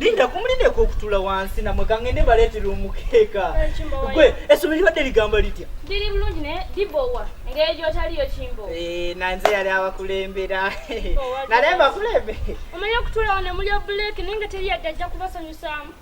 linda kumulindeko okutula wansi namwe kangende baletera omukeeka gwe esomero libadde ligamba litya liri bulungi ne libowa engeri gyotaliyo kimbo eh, nanze yali abakulembera nalemba kulembe omanyi okutulawo ne muli obuleki naye nga teri yadde ajja kubasanyusaamu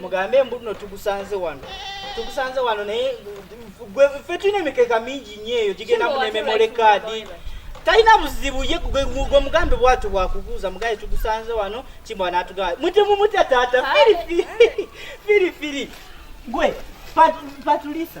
mugambe mbu no tugusanze wano tugusanze wano naye ffe tulina emikeka mingi nyo eyo gigenda mu nememole kaadi talina buzibu ye gwe mugambe bwatyo bwakubuuza mugaye tugusanze wano kimwa natugaa mutemu mutya taata firifiri firifiri gwe patulisa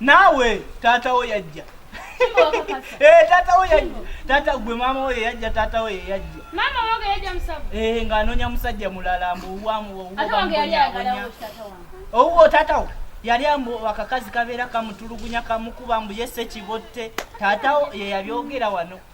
naawe taata wo yajja eh, taata wo yajja taata gwe maama wo yeyajja taata wo yeyajja eh, ng'anoonya musajja mulala mbu owuwo taata wo yali ambu akakazi kabeera kamutulugunya kamukuba mbu yese kibotte taata wo yeyabyogera wano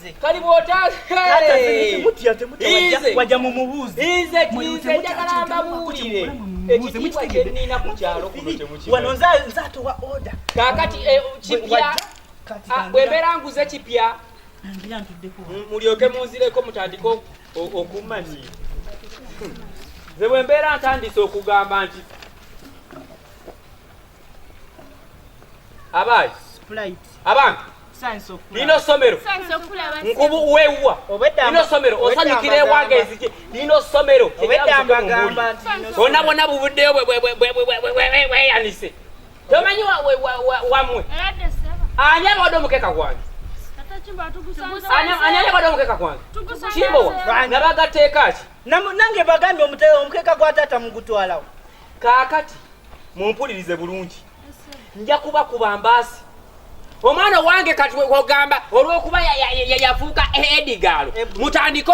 nze kali bwotawaja mumubuuziizejakalambabulire ekitiibwa kyenina ku kyalo kuno nze atowa oda kakati eh, kipya ah, bwembeera nguze kipya mulyoke munzireko mutandike okumanya nze bwembeera ntandise okugamba nti abayi abantu lino somero nkubu wewa lino somero osanyukira ewaga ezije lino somero ona bona bubuddeyo bweyanise tomanyi wamwe ani abawade omukeka gwange ani abawade omukeka gwange kimbowa nabagateekaki nange bagambye omukeka gwa taata mugutwalawo kaakati mumpulirize bulungi nja kuba kuba mbaasi omwana owange kati ogamba olwokuba yafuuka edigaalo mutandike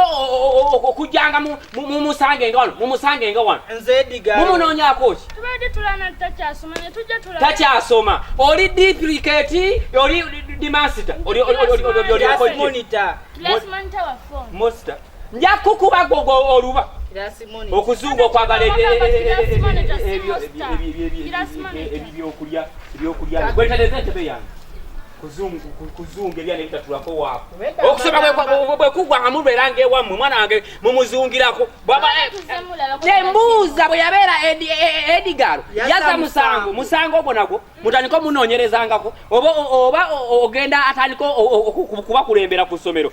okujjanga mumusange nga wano mumusange nga wano mumunoonyako ki takyasoma oli dipliketi oli dimasita oli nja kukuba gogo oluba okuzuuga okwagala ebyokulya ebyokulya gwetereza entebe yange kuzunga ebyana ebitatulako waako okusoma bwekugwa nga mubeera ngaewammwe mwana wange mumuzungirako tembuuza bwe yabeera edigalo yaza musango musango ogwo nagwo mutandika omunoonyerezangako oba ogenda atandika okubakulembera ku ssomero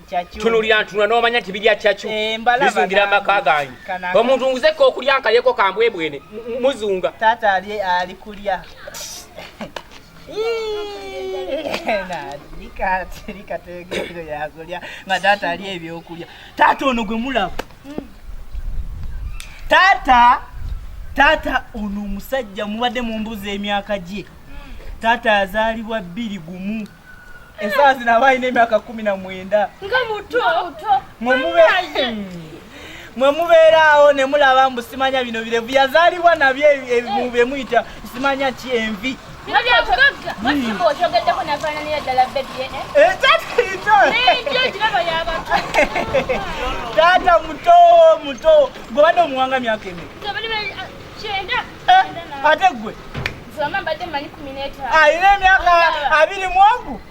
tunulira ntunula n'omanya nti birya cacu eh, bizungira amaka gange omuntu nguzeko okulya nkalyeko kambwebwene muzunga taata ali ali kulya likategeero yakulya nga taata ali ebyokulya taata ono gwe mulaba hmm. taata taata ono omusajja mubadde mumbuza emyaka gye hmm. taata azaalibwa bbiri gumu Esaa zino aba alina emyaka kumi na mwenda nga muto mwe mubeeraawo ne mulaba mbu simanya bino birevu yazaalibwa nabyo bye muyita simanya ki envi taata muto muto gwe badde omuwanga myaka emi ate gwe alina emyaka abiri mu ogu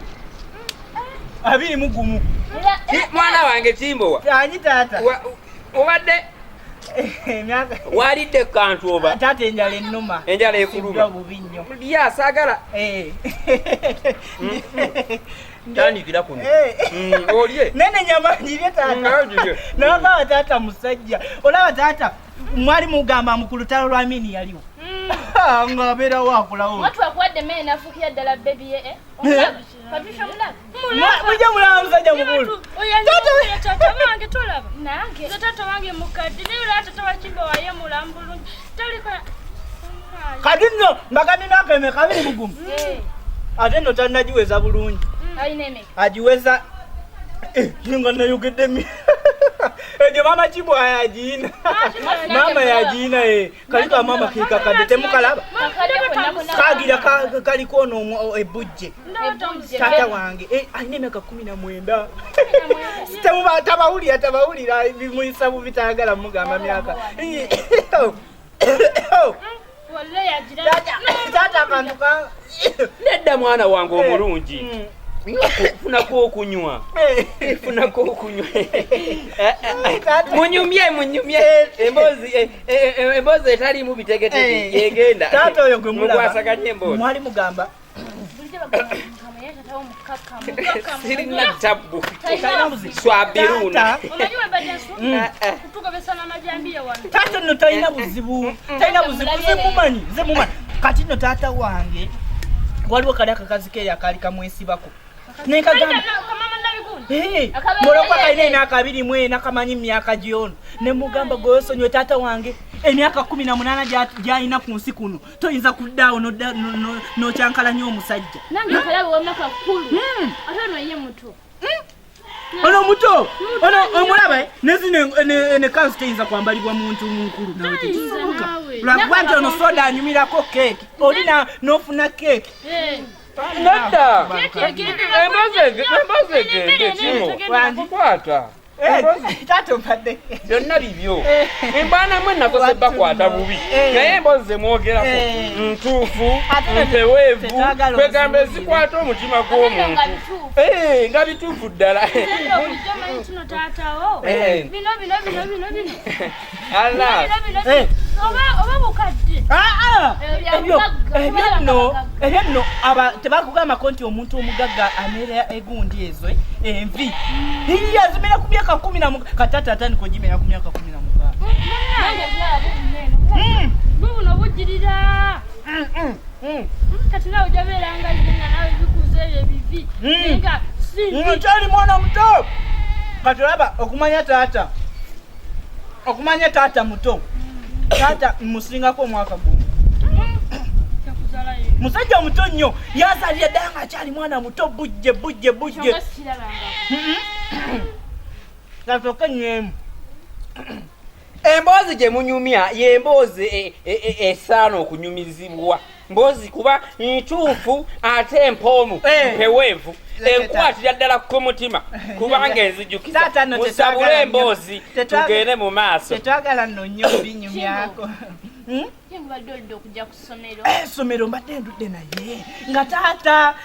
abiri mu gumu mwana wange kimbowa ani taata obadde walidde kantu oba taata enjala ennuma enjala ekuluma bubi nnyo lya saagala eh. mm. tandikira kuno eh. mm, olye nene nyama ngirye taata mm, nawe taata musajja olaba taata mwali mugamba mbu ku lutalo lwa mini yaliwo hmm. nga abeera wakulawo watwakuwadde mee nafukira ddala bebi ye eh? eh? mujja mulaba musajja mukulu kati nno mbagambye myaka emeka abiri mugumu eh. ate nno tanagiweza bulungi hmm. agiweza eh, nga nayogeddemi ejo mama kibwa yagiina mama yagiina e eh. kaliko amama kekakadde temukalaba kagira kaliko ono ebujje eh, tata wange eh, alina emyaka kumi na mwenda tabawulira tabawulira bimuyisa bubitayagala mugamba myaka nedda mwana wange eh, omulungi hmm. funako okunywa eh. funako okunywa munyumye munyumye eh. emboozi emboozi etaliimu bitegetege yegenda taata oyo gwe mulaba mwali mugamba sirina tabbu swabiruna taata no talina buzibu talina buzibu zemumanyi zemumanyi kati no taata wange waliwo kali akakazi ke yakaali kamwesibako nekagamba mulokwa kalina emyaka abiri mwena kamanyi mumyaka gyono nemugamba gwewesonyiwe taata wange emyaka kumi na munana gyalina ku nsi kuno toyinza kuddaawo nokyankalanya omusajja nange nkalabe wamaka kulu hmm. ate ono ye muto hmm. ono muto ono omulaba nezino nekansi teyinza kwambalibwa muntu munkulu nawe tekisoboka lwakuba nti ono soda anyumirako keeki olina nofuna keeki eh. nedda embazege embazege ekino kwata Eh, byonna bibyo eh. embaana mwe nakoze bakwata bubi eh. naye embozi zemwogerako ntuufu mpeweevu kwegamba ezikwata omutima gw'omuntu nga bituufu ddala ebyanno tebakugambako nti omuntu omugagga ameera egundi ezo eh, envi iye azimera ku myaka kumi na katata atandika ogimera ku myaka kumi na mugaano hmm. hmm, hmm, kati nawe ojabeeranga nga nawe bikuza ebyo ebivi nga kyali mwana muto kati olaba okumanya taata okumanya taata muto taata musingako omwaka gumu musajja omuto nnyo yazalira ddala nga akyali mwana muto bujje bujje bujje gatoke enyemu emboozi gye munyumya y'emboozi e, e, e, esaana okunyumizibwa mbozi kuba ntuufu ate empoomu eh. mpeweevu enkwatira ddala ku mutima kubanga enzijukiza musabule emboozi tugende mu maaso tetwagala nno nnyo binyumyako essomero hmm? eh, mbadde ndudde naye nga taata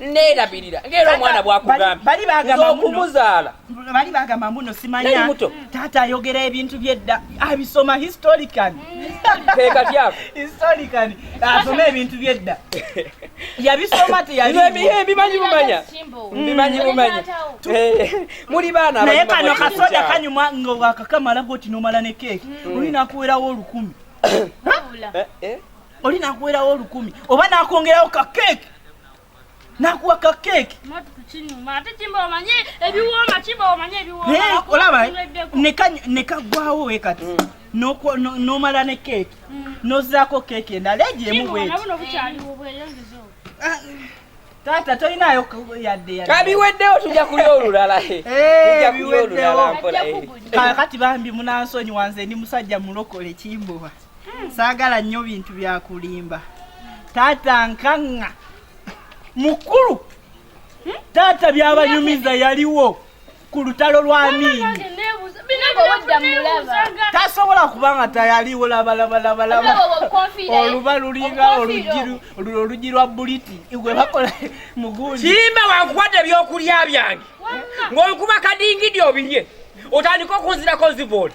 neerabirira ngaera omwana bwakugambyeokumuzaala bali bagamba mbuno simanya taata ayogera ebintu byedda abisoma historican kekatyako historican asoma ebintu byedda yabisoma teyabimanyi bumanya mbimanyi mm. bumanya eh, muli baana naye kano kasoda kanyuma nga wakakamala goti nomala ne keeki mm. olinakuwerawo olukumi oli nakuwerawo olukumi oba nakwongerawo ka keeki nakuwa ka keeki olaba nekagwawo we kati mm. nomala ne keeki mm. nozaako keeki endala egyemu bweti taata tolinayo yadde yadde kabiweddewo tujja kulya olulala eh, eh, tujja kulya olulala mpola eh. kati bambi munansonyi wanze ndi musajja mulokole kimbowa hmm, saagala nnyo bintu byakulimba taata nkaŋŋa mukulu hmm? taata byabanyumiza yaliwo ku lutalo lwa miini tasobola kuba nga tayaliwo labalabalabalaba oluba lulinga olugi lwa buliti gwe bakola mugundi kirimba wakuwadde ebyokulya byange ng'okuba kadingidi obirye otandika okunzirako nzibooli